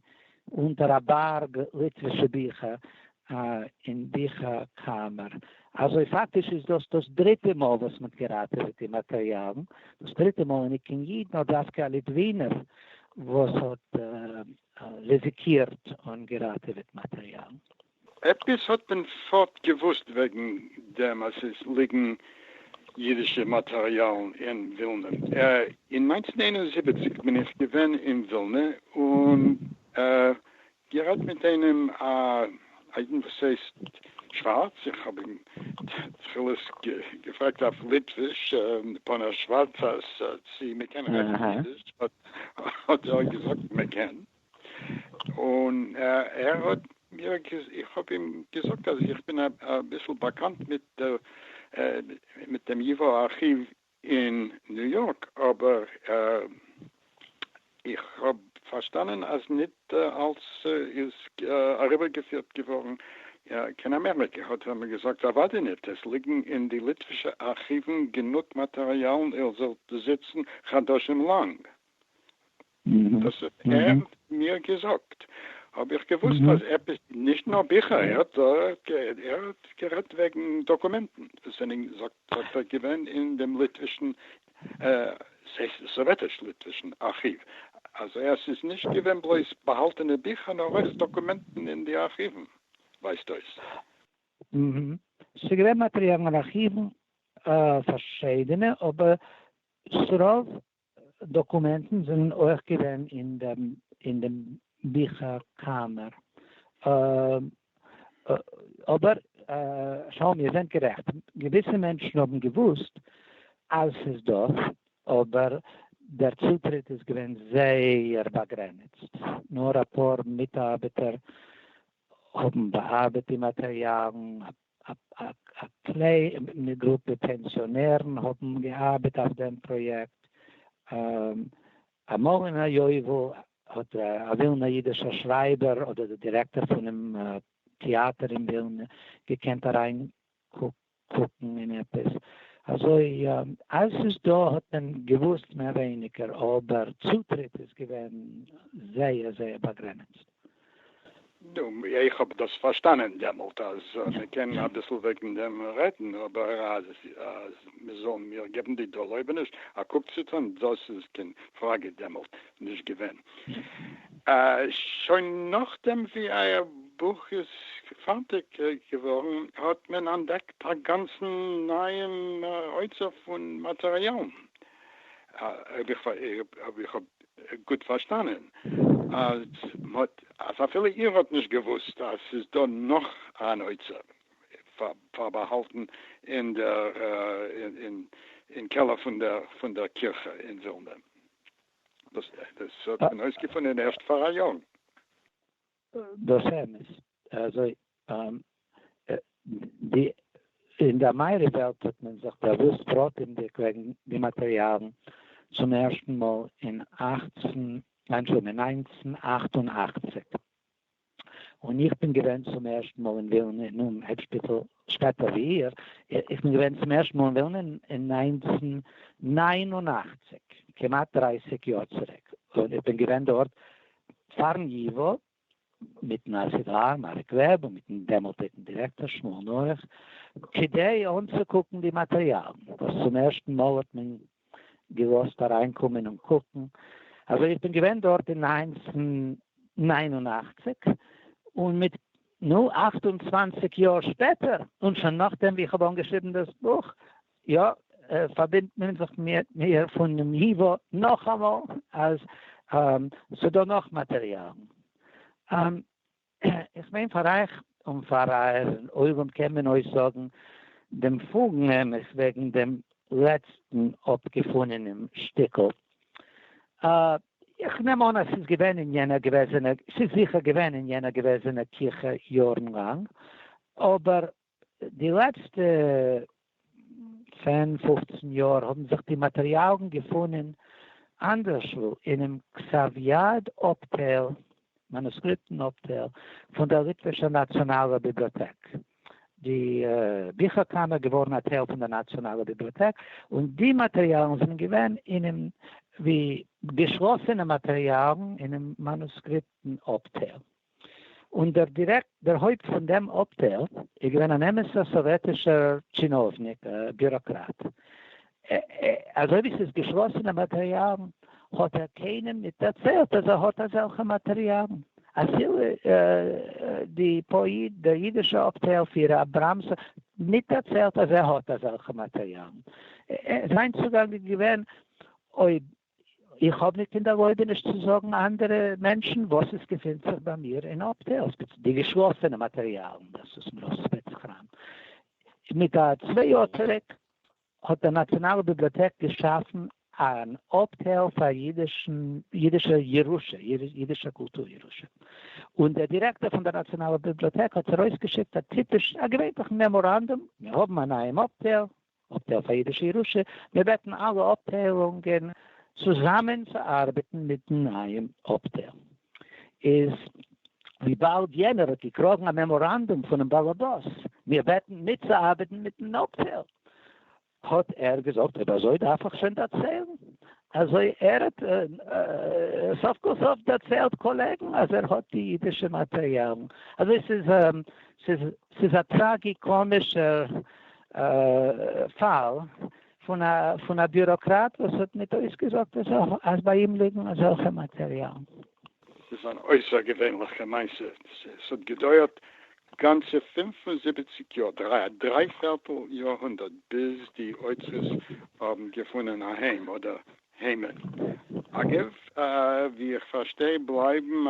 אונטער א בארג ליטווישע ביכער אין ביכער קאמער. אזוי פאקטיש איז דאס דאס דריטע מאל וואס מ'האט געראטעוועט די מאטריאלן, דאס דריטע מאל איז ניט קיין איד נאר דווקא א ליטווינער וואס האט ריזיקירט און געראטעוועט מאטריאלן. עפעס האט מען פארט געוואוסט וועגן דעם אז עס ליגן אידישע מאטעריאלן אין ווילנע. אין נײַנצן איין און זיבעציק בין איך געווען אין ווילנע און גערעדט מיט איינעם א אידן וואס הייסט שווארץ, איך האב אים תחילה געפרעגט אויף ליטוויש פון א שווארצע צי מען קען רעדן אידיש, האט ער געזאגט מען קען. און ער האט מיר, איך האב אים געזאגט אז איך בין אביסל באקאנט מיט דעם ייווא ארכיוו אין ניו יארק, אבער איך האב פארשטאנען אז ניט אלס איז אריבערגעפירט געווארן קיין אמעריקע. האט ער מיר געזאגט, אוודאי ניט, עס ליגן אין די ליטווישע ארכיוון גענוג מאטעריאלן איר זאלט זיצן חדשים לאנג דאס האט ער מיר געזאגט, האב איך געוואוסט אז עפעס, נישט נאר ביכער, ער האט גערעדט וועגן דאקומענטן וואס זענען זאגט ער געווען אין דעם ליטווישן, סאוועטיש-ליטווישן, ארכיוו, אז עס איז נישט געווען בלויז באהאלטענע ביכער נאר אויך דאקומענטן אין די ארכיוון, ווייזט אויס. ס'איז געווען מאטריאלן אין ארכיוון, פארשידענע, אבער ס'רוב דאקומענטן זענען אויך געווען אין דעם ביכער קאמער. אבער שלום איר זענט גערעכט, געוויסע מענטשן האבן געוואוסט אז ס'איז דא, אבער דער צוטריט איז געווען זייער באגרעניצט, נאר אפאר מיטארבעטער האבן באארבעט די מאטריאלן, א כלי מיט גרופע פענסיאנערן האבן געארבעט אויף דעם פראיעקט אמאל אין א יובל, האט א ווילנער אידישער שרייבער אדער די דירעקטאר פונעם טעאטער אין ווילנע געקענט אריינקוקן אין עפעס אזוי, אז ס'איז דא האט מען געוואוסט מער ווייניגער, אבער צוטריט איז געווען זייער זייער באגרעניצט. נו, איך האב דאס פארשטאנען דעמאלט אז מען קען אביסל וועגן דעם רעדן, אבער אז מען זאל מיר געבן די ערלויבעניש א קוק צו טון, דאס איז קיין פראגע דעמאלט נישט געווען. שוין נאכדעם ווי אייער בוך איז פארטיג געווארן האט מען אנטדעקט א גאנצן נייעם אוצר פון מאטעריאלן, אויב איך האב גוט פארשטאנען אז מ'האט אז אפילו איר האט נישט געוואוסט אז ס'איז דא נאך אן אוצר פארבאהאלטן אין דער אין קעלער פון דער פון דער קירכע אין ווילנע. דאס האט מען אויסגעפונען ערשט פאראיאר. דאס אמת. אזוי און די אין די אמערי וועלט האט מען זיך באוואוסט פרטימדיג וועגן די מאטריאלן צום ערשטן מאל אין אַכצן אנטשולדיגט אין נײַנצן אַכט און אַכציק און איך בין געווען צום ערשטן מאל אין ווילנע אינעם העד שפיטאל שפעטער ווי איר איך בין געווען צום ערשטן מאל אין ווילנע אין נײַנצן נײַן און אַכציק כמעט דרײַסיק יאר צוריק און איך בין געווען דארט פארן ייווא מיטן ארכיוואר מארק וועב און מיטן דעמאלטדיגן דירעקטאר שמואל נח כדי אנצוקוקן די מאטריאלן וואס צום ערשטן מאל האט מען געלאזט אריינקומען און קוקן, אזוי איך בין געווען דארט אין נײַנצן נײַן און אַכציק און מיט נו אַכט און צוואַנציק יאר שפעטער און שוין נאכדעם ווי איך האב אנגעשריבן דאס בוך יא, פארבינדט מען זיך מיט מיר פונעם ייווא נאכאמאל אז ס'דא נאך מאטריאלן. איך מיין פאר אייך און פאר אייער עולם קען מען אויסזאגן דעם פולן אמת וועגן דעם לעצטן אפגעפונענעם שטיקל. איך נעם אן אז ס'איז געווען אין יענע געוועזענע, ס'איז זיכער געווען אין יענע געוועזענע קירכע יארן לאנג, אבער די לעצטע צען פופצן יאר האבן זיך די מאטריאלן געפונען אנדערשוואו אינעם כתב יד אפטייל, מאנוסקריפטן אפטייל, פון דער ליטווישער נאציאנאלער ביבליאטעק. די ביכער קאמער איז געווארן א טייל פון דער נאציאנאלער ביבליאטעק, און די מאטריאלן זענען געווען אינעם ווי געשלאסענע מאטריאלן אינעם מאנוסקריפטן אפטייל. און דער דירעקטאָר, הויפּט פון דעם אָפּטייל, איז געווען אַן אמת'ער סאָוועטישער טשינאָוונעק, ביוראָקראַט. אַזוי ווי ס'איז געשלאָסענע מאַטעריאַלן, האָט ער קיינעם ניט דערציילט, אַז ער האָט אַזעלכע מאַטעריאַלן, אַפילו די פּאָיעט, דער יידישער אָפּטייל פירער אַבראַמס, ניט דערציילט, אַז ער האָט אַזעלכע מאַטעריאַלן. זיין צוגאַנג איז געווען, אויב איך האב ניט קיין דערלויבעניש צו זאגן אנדערע מענטשן וואס עס געפינט זיך ביי מיר אין אפטייל, ספעציעל די געשלאסענע מאטעריאלן, דאס וואס מען רופט ספעץ-קראם. מיט א צוויי יאר צוריק האט די נאציאנאלע ביבליאטעק געשאפן אן אפטייל פאר יידישע ירושה, יידישע קולטור ירושה, און דער דירעקטאר פון דער נאציאנאלער ביבליאטעק האט ארויסגעשיקט א טיפיש א געווענליכן מעמאראנדום, מיר האבן א נייעם אפטייל, אויף די אויף אידישע ירושה, מיר בעטן אלע אפטיילונגען צוזאמען צו ארבעטן מיטן נייעם אפטייל, איז וויבאלד יענער האט געקראגן א מעמאראנדום פונעם באלעבאס מיר בעטן מיטצוארבעטן מיטן אפטייל, האט ער געזאגט אויב אזוי דארף איך שוין דערציילן, אזוי ער האט סוף כל סוף דערציילט קאלעגן אז ער האט די אידישע מאטריאלן, אזוי ס'איז ס'איז ס'איז א טראגי-קאמישער פאל פון א ביוראקראט וואס האט מיט אויסגעזאגט אז ביי אים ליגן אזעלכע מאטעריאלן. ס'איז אן אויסערגעווענליכע מעשה, ס'האט געדויערט גאנצע פֿינף און זיבעציק יאר, דריי א דריי פערטל יאר הונדערט, ביז די אוצרות האבן געפונען א היים אדער העמער. אגב, ווי איך פארשטיי בלייבן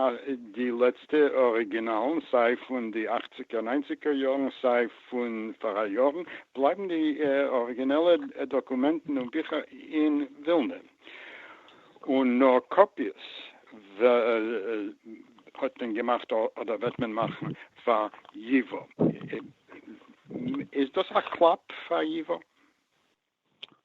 די לעצטע אריגינאלן סיי פון די אכציגער ניינציגער יארן סיי פון פאראיאר יארן, בלייבן די אריגינעלע דאקומענטן און ביכער אין ווילנע, און נאר קאפיעס האט מען געמאכט אדער וועט מען מאכן פאר ייווא. איז דאס א קלאפ פאר ייווא?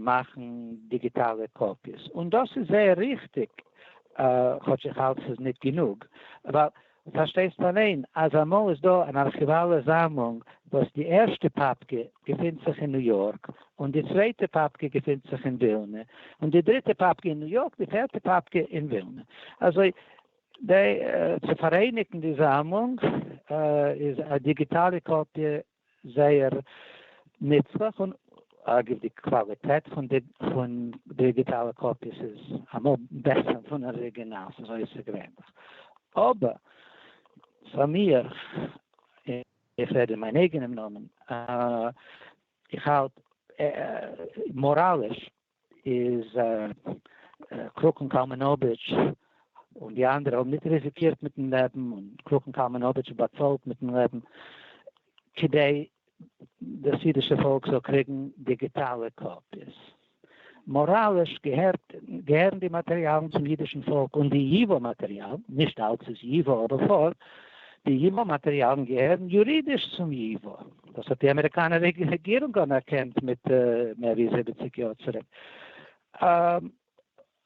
מאכן דיגיטאלע קאפיעס, און דאס איז זייער ריכטיג, כאטש איך האלט ס'איז ניט גענוג, ווייל פארשטייסט אליין אז אמאל איז דא אן ארכיוואלע זאמלונג וואס די ערשטע פאפקע געפינט זיך אין ניו יארק, און די צווייטע פאפקע געפינט זיך אין ווילנע, און די דריטע פאפקע אין ניו יארק, די פערטע פאפקע אין ווילנע. אזוי צו פאראייניגן די זאמלונג איז א דיגיטאלע קאפיע זייער נוצליך און אגב די קוואליטעט פון די פון דיגיטאלע קאפיעס איז אמאל בעסער פון אריגינאלס אזוי איז ס'געווענליך אבער פאר מיר איך רעד אין מיין אייגענעם נאמען איך האלט מאראליש איז קלוג און קאלמענאביטש און די אנדערע האבן ניט ריזיקירט מיטן לעבן און קלוג און קאלמענאביטש האט באצאלט מיטן לעבן כדי דאס אידישע פאלק זאל קריגן דיגיטאלע קאפיעס. מאראליש געהערט געהערן די מאטריאלן צום אידישן פאלק און די ייווא מאטריאלן, נישט אלץ איז ייווא אבער פארט, די ייווא מאטריאלן געהערן יורידיש צום ייווא. דאס האט די אמעריקאנער רעגירונג אנערקענט מיט מער ווי זיבעציג יאר צוריק.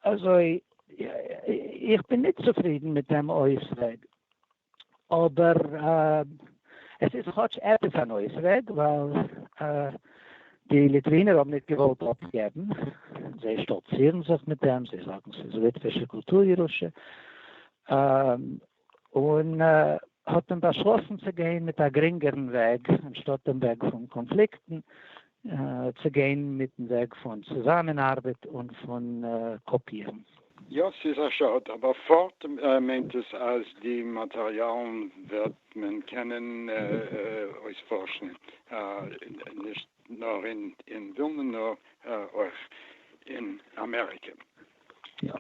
אזוי איך בין נישט צופרידן מיט דעם אויסוועג, אבער עס איז כאטש עפעס אן אויסוועג, ווייל די ליטווינער האבן נישט געוואלט אפגעבן, זיי שטאלצירן זיך מיט דעם, זיי זאגן ס'איז ליטווישע קולטור ירושה, און האט מען באשלאסן צו גיין מיט א גרינגערן וועג, אנשטאט דעם וועג פון קאנפליקטן, צו גיין מיטן וועג פון צוזאמענארבעט און פון קאפירן. יא, ס'איז א שאד, אבער פארט מיינט עס אז די מאטעריאלן וועט מען קענען אויספארשן, נישט נאר אין ווילנע נאר אויך אין אמעריקע. יא.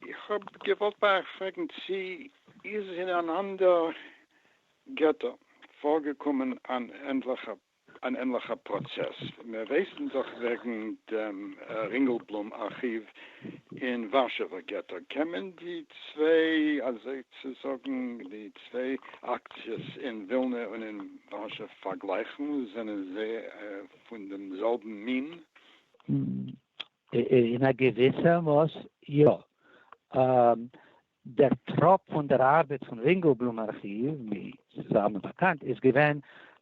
איך האב געוואלט ביי אייך פרעגן צי איז אין אן אנדער געטא פארגעקומען אן ענליכער פראצעס, מיר ווייסן דאך וועגן דעם רינגעלבלום ארכיוו אין ווארשעווער געטא, קען מען די צוויי אזוי צו זאגן די צוויי אקציעס אין ווילנע און אין ווארשא פארגלייכן, זענען זיי פון דעם זעלבן מין? אין א געוויסע מאס יא. דער טראפ פון דער ארבעט פון רינגעלבלום ארכיוו, ווי ס'איז אלעמען באקאנט, איז געווען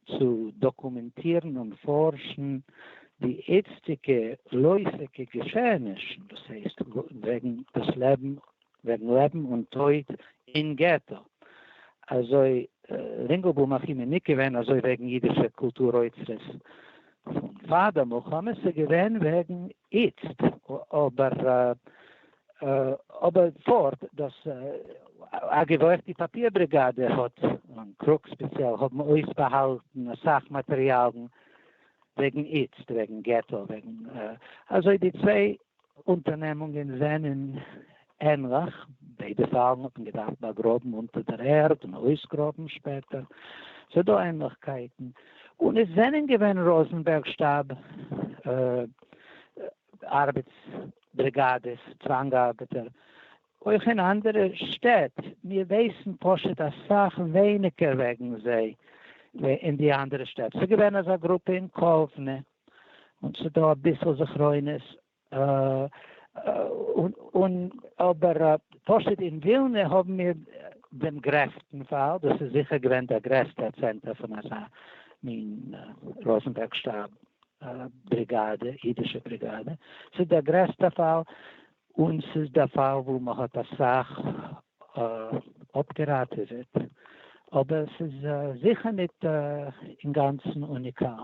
צו דאקומענטירן און פארשן די איצטיגע לויפיגע געשעענישן, דאס הייסט וועגן דאס לעבן וועגן לעבן און טויט אין געטא, אזוי רינגלבוים האט אים מניק געווען, אזוי וועגן אידישע קולטור אוצרות פון פאר די מלחמה, עס איז געווען וועגן איצט, אבער אבער פארט דאס אגב אויך די פאפיר בריגאדע האט און קרוק ספעציעל האבן אויסבאהאלטן אסאך מאטריאלן וועגן איצט, וועגן געטא, וועגן אזוי די צוויי אונטערנעמונגען זענען ענליך, ביידע פאלן האט מען געדארפט באגראבן אונטער דער ערד און אויסגראבן שפעטער, ס'איז דא ענליכקייטן, און עס זענען געווען ראזנבערג שטאב ארבעטס בריגאדעס, צוואנג ארבעטער, אויך אין אנדערע שטעט, מיר ווייסן פשוט אסאך ווייניגער וועגן זיי ווי אין די אנדערע שטעט, ס'איז געווען אזא גרופע אין קאוונע. און ס'איז דא אביסל זכרונות און אבער פשוט אין ווילנע האבן מיר דעם גרעסטן פאל, דאס איז זיכער געווען דער גרעסטער צענטער פון אזא מין ראזענבערג שטאב בריגאדע, אידישע בריגאדע, ס'איז דער גרעסטער פאל און ס'איז דער פאל וואו מ'האט אסאך אפגעראטעוועט, אבער ס'איז זיכער ניט אינגאנצן אוניקאל.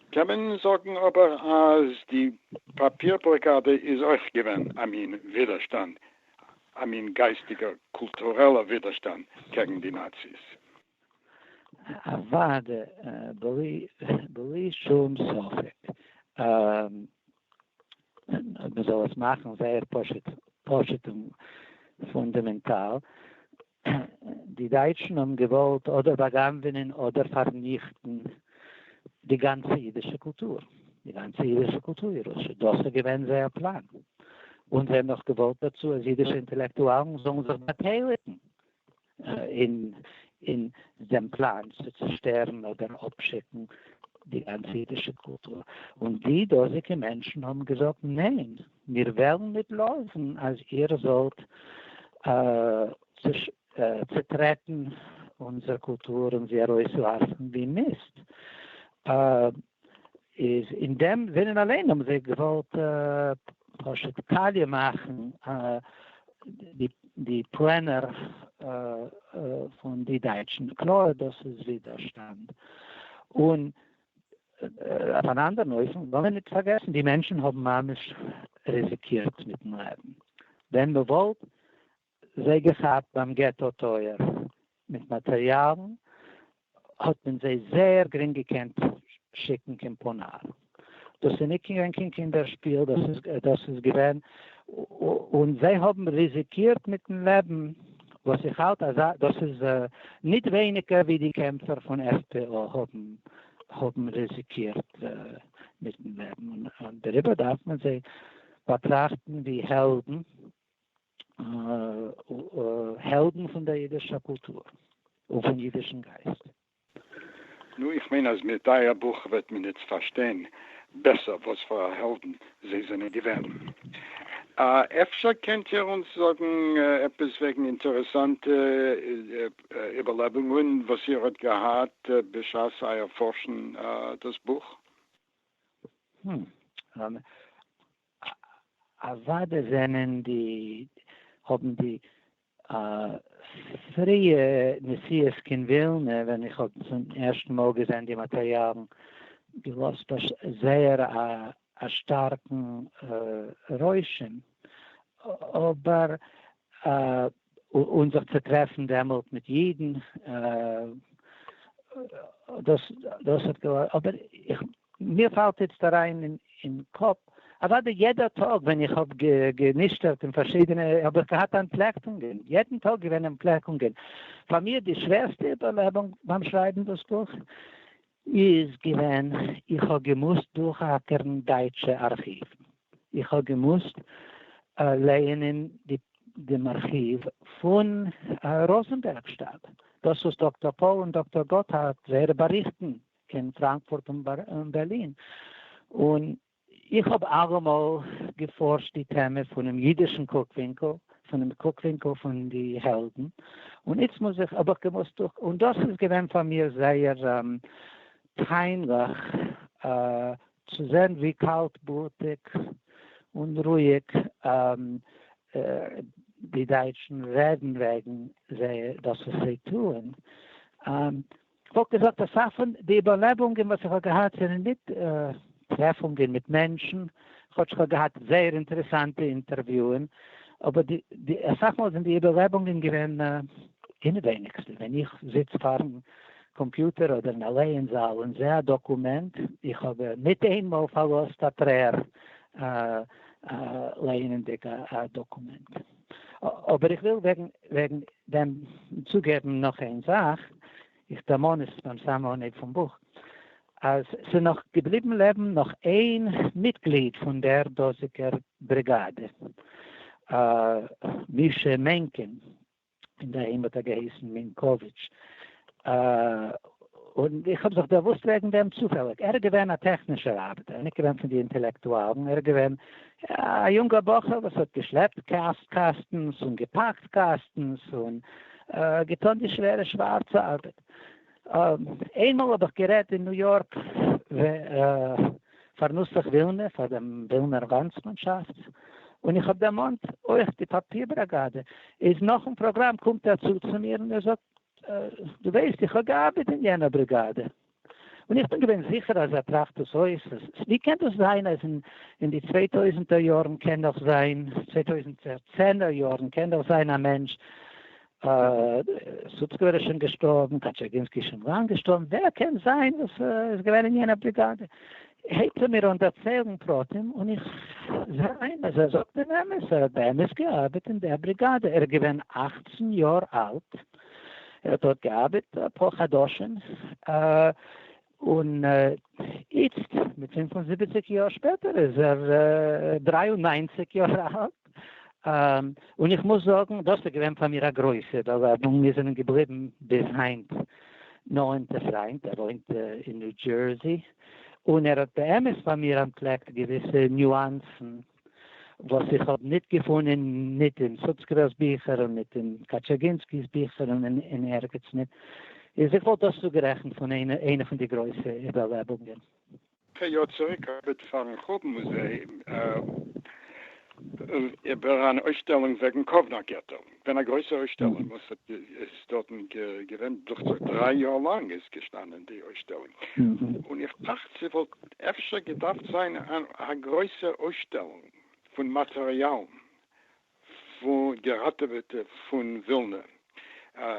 קען מען זאגן אבער אז די פאפיר בלאקאדע איז אויך געווען א מין ווידערשטאנד, א מין גייסטיגער קולטורעלע ווידערשטאנד קעגן די נאציס. אוואדע, בלי שום ספק. אויב מען זאל עס מאכן זייער פשוט פשוט און פונדאמענטאל, די דייטשן האבן געוואלט אדער באגנבענען אדער פארניכטן די גאנצע אידישע קולטור, די גאנצע אידישע קולטור און ירושה, דאס איז געווען זייער פלאן, און זיי האבן נאך געוואלט דערצו אז אידישע אינטעלעקטואלן זאלן זיך באטייליגן אין דעם פלאן צו צושטערן אדער אפשיקן די גאנצע אידישע קולטור, און די דאזיגע מענטשן האבן געזאגט, ניין, מיר וועלן ניט לאזן אז איר זאלט צוטרעטן אונזער קולטור און זי ארויסווארפן ווי מיסט. איז אין דעם זינען אליין האבן זיי געוואלט פשוט קאליע מאכן די פלענער פון די דייטשן, קלאר דאס איז ווידערשטאנד, און אויף אן אנדערן אופן לאמיר נישט פארגעסן די מענטשן האבן ממש ריזיקירט מיטן לעבן, ווען מען וואלט זיי געכאפט ביים געטא טויער מיט מאטריאלן, האט מען זיי זייער גרינג געקענט שיקן קיין פאנאר. דאס איז ניט געווען קיין קינדער שפיל, דאס איז געווען, און זיי האבן ריזיקירט מיטן לעבן, וואס איך האלט אז דאס איז ניט ווייניגער ווי די קעמפער פון עף-פי-או האבן ריזיקירט מיטן לעבן, און דעריבער דארף מען זיי באטראכטן ווי העלדן. העלדן פון דער אידישער קולטור און פון אידישן גייסט. נו, איך מיין אז מיט אייער בוך וועט מען איצט פארשטיין בעסער וואס פאר א העלדן זיי זענען געווען. אפשר קענט איר אונז זאגן עפעס וועגן אינטערעסאנטע איבערלעבונגען וואס איר האט געהאט בשעת אייער פארשן דאס בוך? אוואדע זענען די האבן די פריע נסיעות קין ווילנע ווען איך האב צום ערשטן מאל געזען די מאטריאלן געלאזט זייער א שטארקן רושם אבער אן זיך צו טרעפן דעמאלט מיט אידן דאס דאס האט געלאזט אבער איך מיר פאלט איצט אריין אין קאפ, אוואדי יעדע טאג ווען איך האב גענישטערט אין פארשידענע האב איך געהאט אנטפלעקונגען, יעדן טאג געווען אנטפלעקונגען. פאר מיר די שווערסטע איבערלעבונג ביים שרייבן דאס בוך איז געווען איך האב געמוזט דורכאקערן דייטשע ארכיוון, איך האב געמוזט לייענען דעם ארכיוו פון ראזענבערגשטאט, דאס וואס דאקטאר פאול און דאקטאר גאטהארד זייערע באריכטן קען פראנקפורט און בערלין, און איך האב אלעמאל געפארשט די טעמע פונעם אידישן קוק ווינקל, פונעם קוק ווינקל פון די העלדן, און איצט מוז איך, האב איך געמוזט דורך, און דאס איז געווען פאר מיר זייער פיינליך צו זען ווי קאלט בלוטיג און רואיג די דייטשן רעדן וועגן זיי דאס וואס זיי טוען, כ'וואלט געזאגט אסאך פון די איבערלעבונגען וואס איך האב געהאט זענען ניט טרעפונגען מיט מענטשן, כאטש כ'האב געהאט זייער אינטערעסאנטע אינטערוויוען, אבער די די אסאך מאל זענען די איבערלעבונגען געווען אינעווייניגסטע ווען איך זיץ פארן קאמפיוטער אדער אין א לערן זאל און זעה א דאקומענט, איך האב ניט איין מאל פארלאזט א טרער לערנענדיג א דאקומענט. אבער איך וויל וועגן דעם צוגעבן נאך איין זאך, איך דערמאן עס ביים סאמע אנהייב פון בוך, אז ס'איז נאך געבליבן לעבן נאך איין מיטגליד פון דער דאזיגער בריגאדע, מישא מענקין, און די איים האט ער געהייסן מינקאוויטש, און איך האב זיך דערוואוסט וועגן דעם צופעליג. ער איז געווען א טעכנישער ארבעטער, ניט געווען פון די אינטעלעקטואלן. ער איז געווען א יונגער בחור וואס האט געשלעפט קאסטנס און געפאקט קאסטנס און געטאן די שווערע שווארצע ארבעט. איינמאל האב איך גערעדט אין ניו יארק פאר נוסח ווילנע, פאר דעם ווילנער לאנדסמאנשאפט, און איך האב דערמאנט אויך די פאפיר בראגאדע, איז נאכן פראגראם קומט ער צו צו מיר און ער זאגט, דו ווייסט איך האב געארבעט אין יענער בריגאדע, און איך בין געווען זיכער אז ער טראכט דאס אויס, אז ווי קען דאס זיין אז אין די צוויי טויזנטער יארן קען נאך זיין, צוויי טויזנט צענער יארן קען נאך זיין א מענטש, סוצקעווער איז שוין געשטארבן, קאטשערגינסקי איז שוין לאנג געשטארבן, ווער קען זיין וואס איז געווען אין יענער בריגאדע? הייבט ער מיר אן דערציילן פרטים און איך זע איין אז ער זאגט דעם אמת, ער האט באמת געארבעט אין דער בריגאדע, ער איז געווען אַכצן יאר אלט, ער האט דארט געארבעט אפאר חדשים, און איצט מיט פֿינף און זיבעציק יאר שפעטער איז ער דרײַ און נײַנציק יאר אלט. און איך מוז זאגן דאס איז געווען פאר מיר א גרויסע באווארמונג, מיר זענען געבליבן ביז היינט נאענטע פריינט, ער וואוינט אין ניו דזשערסי, און ער האט באמת פאר מיר אנטפלעקט געוויסע ניואנסן וואס איך האב ניט געפונען ניט אין סוצקעוועל'ס ביכער און ניט אין קאטשעגינסקי'ס ביכער און אין ערגעץ ניט, איז איך וואלט דאס צוגערעכנט פון איינע פון די גרויסע איבערלעבונגען. פאר יאר צוריק האב איך פארן חורבן מוזעאום איבער אן אויסשטעלונג וועגן קאוונא געטא געווען א גרויסע אויסשטעלונג וואס האט איז דארטן געווען דוכצעך דריי יאר לאנג איז געשטאנען די אויסשטעלונג און איך טראכט ס'וואלט אפשר געדארפט זיין א גרויסע אויסשטעלונג פון מאטעריאלן געראטעוועטע פון ווילנע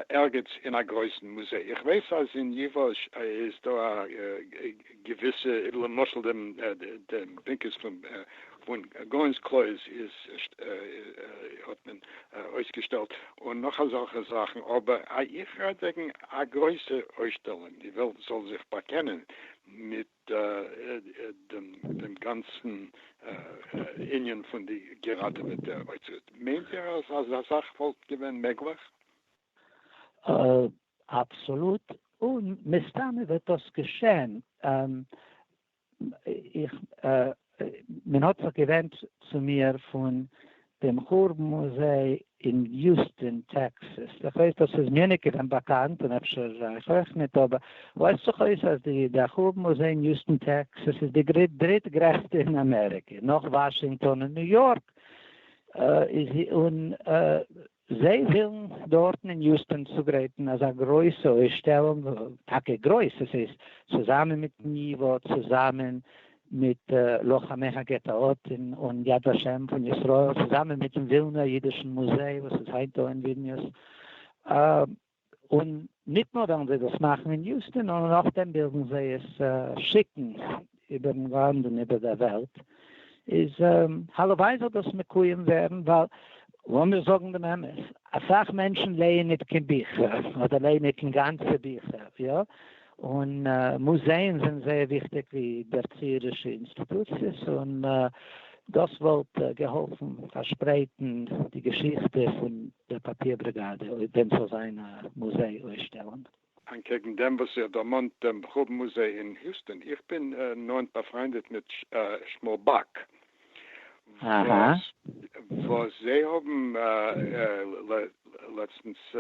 ערגעץ אין א גרויסן מוזיי, איך ווייס אז אין ייוואש איז דא א געוויסע, למשל די בנקעס פון גאון'ס קלויז איז האט מען אויסגעשטעלט און נאך אזעלכע זאכן, אבער איך רעד וועגן א גרויסע אויסשטעלונג די וועלט זאל זיך באקענען מיט דעם גאנצן ענין פון די געראטעוועטע אוצרות, מיינט איר אז אזא זאך וואלט געווען מעגליך? אבסאלוט, און מסתמא וועט דאס געשען. איך מען האט זיך געווענדט צו מיר פון דעם חורבן מוזיי אין יוסטאן טעקסעס, איך ווייס דאס איז מיר ניט געווען באקאנט און אפשר אייך אויך ניט, אבער ווייזט זיך אויס אז די דער חורבן מוזיי אין יוסטאן טעקסעס איז די דריט גרעסטע אין אמעריקע, נאך וואשינגטאן און ניו יארק, און זיי ווילן דארטן אין יוסטאן צוגרייטן אזא גרויסע אויסשטעלונג, טאקע גרויס, עס איז צוזאמען מיט תניווא, צוזאמען מיט לוחמי הגטאות און יד ושם פון ישראל, צוזאמען מיטן ווילנער אידישן מוזיי וואס איז היינט דא אין וויליניוס, און ניט נאָר װעלן זײ דאָס מאַכן אין יוסטון, נאָר נאָכדעם װילן זײ עס שיקן איבערן לאַנד און איבער דער װעלט. איז הלװאַי זאָל דאָס מקוים װערן, װײַל, לאָמיר זאָגן דעם אמת, אַ סך מענטשן לײען ניט קײן ביכער, אָדער לײען ניט אינגאַנצע ביכער, יאָ, און מוזעאן זענען זייער וויכטיג ווי דערציערישע אינסטיטוציעס און דאס וואלט געהאלפן פארשפרייטן די געשיכטע פון דער פאפיר בריגאדע אויב ווען ס'זאל זיין א מוזיי אויסשטעלונג. אנקעגן דעם וואס איר דערמאנט דעם בחור מוזיי אין היוסטאן, איך בין נאענט באפריינדעט מיט שמואל באק, וואס זיי האבן לעצטנס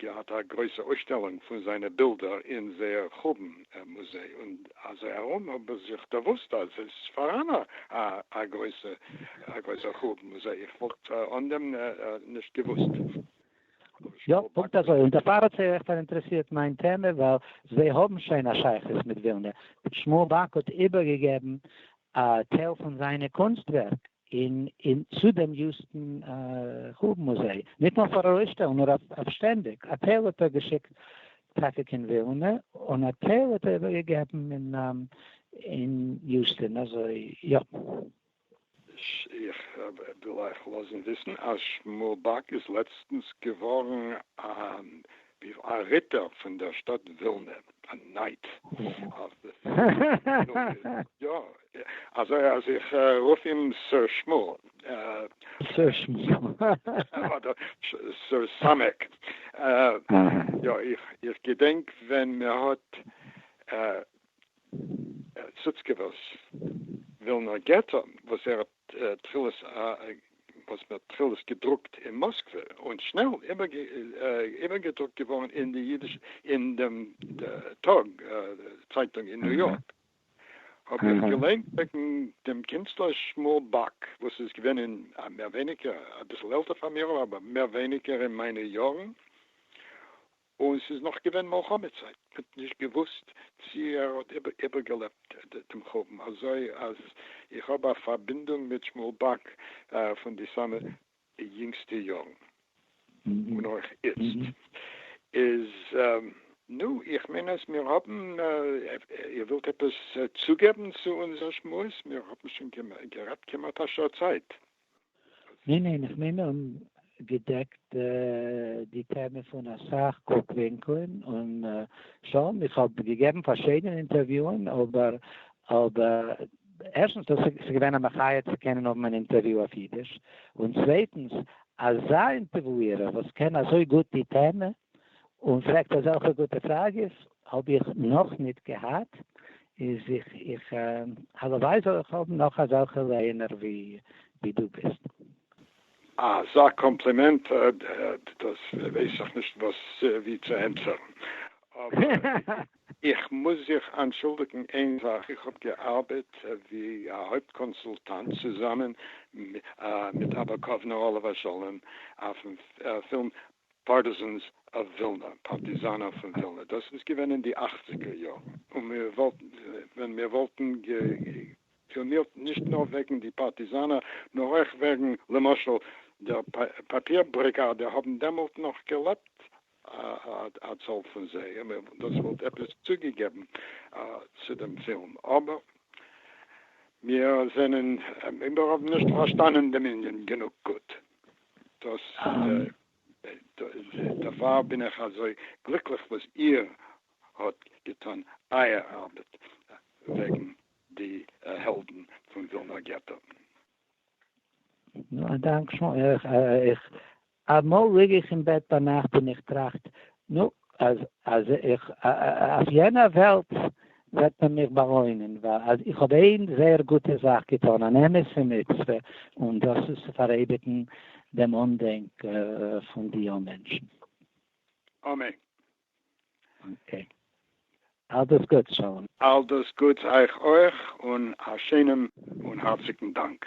געהאט א גרויסע אויסשטעלונג פון זיינע בילדער אין זייער חורבן מוזיי, און אזוי ארום האב איך זיך דערוואוסט אז עס איז פאראן א גרויסע חורבן מוזיי, איך וואלט אן דעם נישט געוואוסט. יא, פונקט אזוי, און דערפאר האט זיי אויך פאראינטערעסירט מיין טעמע, ווייל זיי האבן שוין א שייכות מיט ווילנע, שמואל באק האט איבערגעגעבן א טייל פון זיינע קונסט-ווערק אין אין צו דעם יוסטן חורבן מוזיי, ניט נאר פאר ארויסשטעלן, נאר אויף שטענדיק, א טייל האט ער געשיקט טאקע קיין ווילנע, און א טייל האט ער איבערגעגעבן אין אין יוסטן, אזוי יא. איך וויל אייך לאזן וויסן אז שמואל באק איז לעצטנס געווארן א ריטער פון דער שטאט ווילנע, א נייט. יא, אזוי אז איך רוף אים סער שמואל. סער שמואל. אדער סער סאמעק. יא, איך געדענק ווען מען האט סוצקעווערס ווילנער געטא וואס ער האט תחילות וואס מען האט תחילות געדרוקט אין מאסקווע און שנעל איבערגעדרוקט געווארן אין די אידישע אין דעם טאג צייטונג אין ניו יארק האב איך געליינט וועגן דעם קינצלער שמואל באק וואס איז געווען אין מער ווייניגער אביסל עלטער פאר מיר אבער מער ווייניגער אין מיינע יארן און ס'איז נאך געווען מלחמה צייט, מ'האט נישט געוואוסט צי ער האט איבערגעלעבט דעם חורבן, אזוי אז איך האב א פארבינדונג מיט שמואל באק פון די סאמע יונגסטע יארן, און אויך איצט איז נו, איך מיין אז מיר האבן, איר ווילט עפעס צוגעבן צו אונזער שמועס? מיר האבן שוין גערעדט כמעט א שעה צייט. ניין ניין איך מיין מיר האבן געדעקט די טעמע פון אסאך קוק ווינקלען און שוין איך האב געגעבן פארשידענע אינטערוויוען אבער אבער ערשטנס דאס איז געווען א מחיה צו קענען האבן אן אינטערוויו אויף אידיש און צווייטנס אזא אינטערוויוער וואס קען אזוי גוט די טעמע און פרעגט אזעלכע גוטע פראגעס האב איך נאך ניט געהאט, איז איך איך הלוואי זאל איך האבן נאך אזעלכע לייענער ווי דו ביסט. אזא קאמפלימענט דאס ווייס איך נישט ווי צו ענטפערן, אבער איך מוז זיך אנטשולדיגן איין זאך, איך האב געארבעט ווי א הויפט קאנסולטאנט צוזאמען מיט אבא קאוונא עליו השלום אויפן פילם פארטיזענס אוו ווילנא, פארטיזאנער פון ווילנא, דאס איז געווען אין די אכציגער יארן, און מיר וואלטן, ווען מיר וואלטן גע'פילנירט נישט נאר וועגן די פארטיזאנער, נאר אויך וועגן, למשל, דער פאפיר בריגאדע, האבן דעמאלט נאך געלעבט א צאל פון זיי, און דאס וואלט עפעס צוגעגעבן צו דעם פילם, אבער מיר זענען, מיר האבן נישט פארשטאנען דעם ענין גענוג גוט. דאס דערפאר בין איך אזוי גליקליך וואס איר האט געטון אייער ארבעט וועגן די העלדן פון ווילנא געטא. א דאנק שוין. איך אמאל ליג איך אין בעט ביינאכט און איך טראכט נו, אז אז איך אויף יענער וועלט וועט מען מיך באלוינען ווייל אז איך האב איין זייער גוטע זאך געטאן, אן אמת'ע מצוה, און דאס איז צו פאראייביגן דעם אנדענק פון די יו מענטשן. אמן. אקעי. אלדאס גוטס, שלום. אלדאס גוטס אייך אויך, און א שיינעם און הארציגן דאנק.